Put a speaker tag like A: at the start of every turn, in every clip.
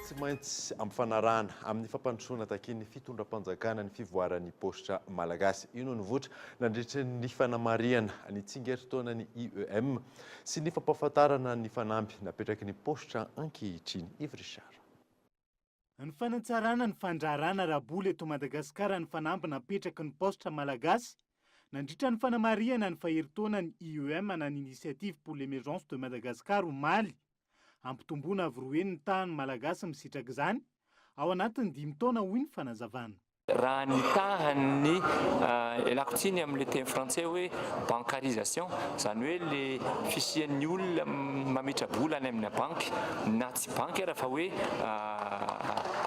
A: Tsy maintsy ampifanarahana amin'ny fampandrosoana takian'ny fitondram-panjakana ny fivoaran'ny paositra malagasy. Io no nivoitra nandritra ny fanamarihana ny tsingerin-taonan'ny IEM sy ny fampahafantarana ny fanamby napetraky ny paositra ankehitriny. Yves Richard.
B: Ny fanatsarana ny fandraharana ara-bola eto Madagasikara ny fanamby napetraky ny Paositra Malagasy nandritra ny fanamarihana ny faherintaonan'ny IEM ana ny Initiative pour l'Emergence de Madagascar omaly. Hampitomboana avo roa heny ny tahan'ny Malagasy misitraka izany ao anatin'ny dimy taona hoy ny fanazavana. Raha ny
C: tahan'ny ialako tsiny amin'ilay teny frantsay hoe bancarisation, izany hoe ilay fisian'ny olona mametra-bola any amina banky, na tsy banky ara fa hoe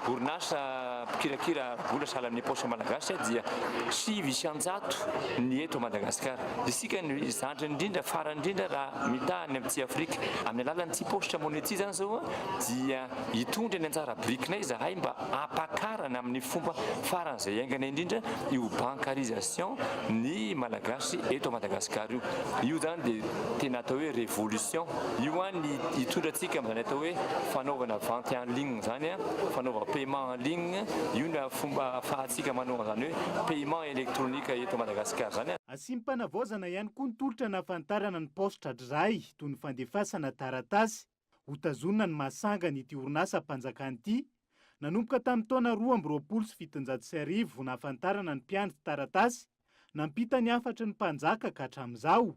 C: orinasa mpikirakira vola sahala amin'ny paosy malagasy dia sivy isan-jato ny eto Madagasikara. Isika no zandriny indrindra, farany indrindra raha mitaha any amin'ny Tsiafrika. Amin'ny alalan'ny tsipaositra money ity izany izao dia Hitondra ny anjara birikinay izahay mba hampakarana amin'ny fomba faran'izay haingana indrindra io bancarisation ny Malagasy eto Madagascar io. Io zany dia tena atao hoe révolution. Io an ny hitondra antsika amin'izany atao hoe fanaovana vente en ligne zany an, fanaova paiement en ligne, io no fomba ahafahantsika manao an'izany hoe paiement électronique eto Madagascar zany an. Asiam-panavaozana
B: ihany koa ny tolotra anahafantarana ny paositra dray toy ny fandefasana taratasy. Hotazonina ny maha sangany ity orinasam-panjakana ity, nanomboka tamin'ny taona roa amby roapolo sy fitonjato sy arivo vao nahafantarana ny mpiandry taratasy nampita ny hafatry ny mpanjaka ka hatramin'izao.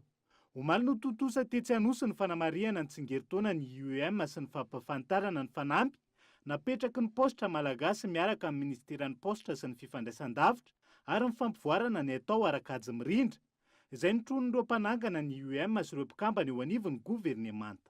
B: Omaly no tontosa tetsy Anosy ny fanamarihana ny tsingerin-taonan'ny IEM sy ny fampahafantarana ny fanamby napetraky ny paositra malagasy miaraka amin'ny minisiteran'ny paositra sy ny fifandraisan-davitra ary ny fampivoarana ny atao ara-kajy mirindra izay notronin'ireo mpanangana ny UM sy ireo mpikambana eo anivon'ny governemanta.